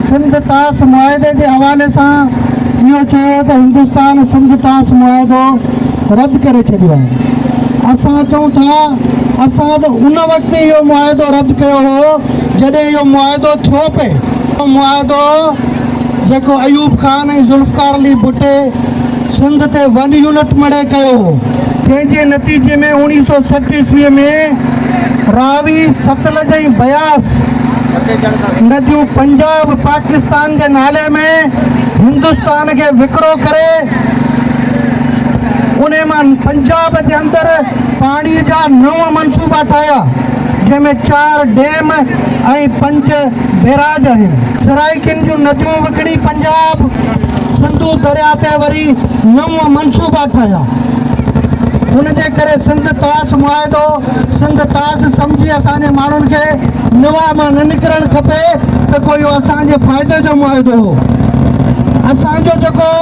سنڌ طاس معاهدي جي حوالي سان اهو چيو ته هندستان سنڌ طاس معاهدو رد ڪري ڇڏيو آهي، اسان چئون ٿا اسان ته ان وقت اهو معاهدو رد ڪيو هو جڏهن اهو معاهدو ٿيو پئي، اهو معاهدو جيڪو ايوب خان ۽ ذوالفقار علي ڀٽي سنڌ تي ون يونٽ مڙهي ڪيو هو، جنهن جي نتيجي ۾ اوڻيهه سؤ سٺ عيسوي ۾ راوي، ستلج ۽ بياس. نديون پنجاب پاڪستان جي نالي ۾ هندستان کي وڪرو ڪري ان مان پنجاب جي اندر پاڻي جا نو منصوبا ٺاهيا جنهن ۾ چار ڊيم ۽ پنج بيراج آهن. سرائيڪين جون نديون وڪڻي پنجاب سنڌو درياء تي وري نو منصوبا ٺاهيا ان جي ڪري سنڌ طاس معاهدو سنڌ طاس سمجهي اسان جي ماڻهن کي نواء مان نه نڪرڻ کپي ته ڪو اهو اسان جي فائدي جو معاهدو هو. اسان جو جيڪو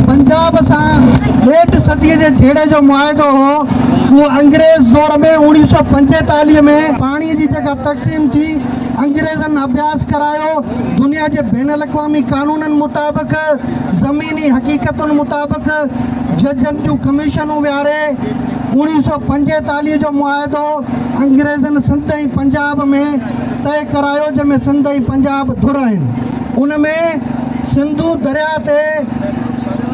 پنجاب سان ڏيڍ صديء جي جهيڙي جو معاهدو هو اهو انگريز دور ۾ اوڻيهه سؤ پنجيتاليهه ۾. پاڻي جي جيڪا تقسيم ٿي انگريزن اڀياس ڪرايو دنيا جي بين الاقوامي قانونن مطابق زميني حقيقتن مطابق ججن جون ڪميشنون ويهاري، اوڻيهه سؤ پنجيتاليهه جو معاهدو انگريزن سنڌ ۽ پنجاب ۾ طئي ڪرايو جنهن ۾ سنڌ ۽ پنجاب ڌر آهن ان ۾ سنڌو درياء تي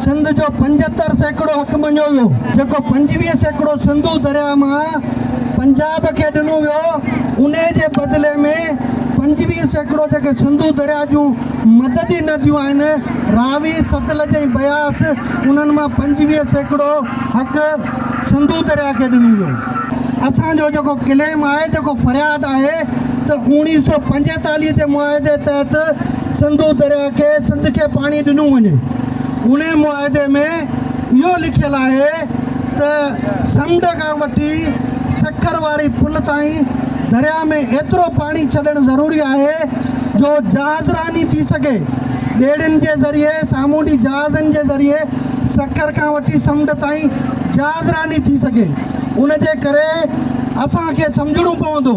سنڌ جو پنجهتر سيڪڙو حق مڃيو ويو جيڪو پنجويهه سيڪڙو سنڌو درياء مان پنجاب کي ڏنو ويو انهي جي بدلي ۾ پنجويهه سيڪڙو جيڪي سنڌو درياء جون مددي نديون آهن راوي ستلج ۽ بياس انهن مان پنجويهه سيڪڙو حق سنڌو درياء کي ڏنو ويو. اسان جو جيڪو ڪليم آهي، جيڪو فرياد آهي ته اوڻيهه سؤ پنجيتاليهه جي معاهدي تحت سنڌو درياء کي سنڌ کي پاڻي ڏنو وڃي. انهي معاهدي ۾ اهو لکيل آهي ته سمنڊ کان وٺي سکر واري پل تائين درياء ۾ ايترو پاڻي ڇڏڻ ضروري آهي جو جهازراني ٿي سگهي، ٻيڙين جي ذريعي، سامونڊي جهازن جي ذريعي، سکر کان وٺي سمنڊ تائين جهازراني ٿي سگهي، ان جي ڪري اسان کي سمجهڻو پوندو.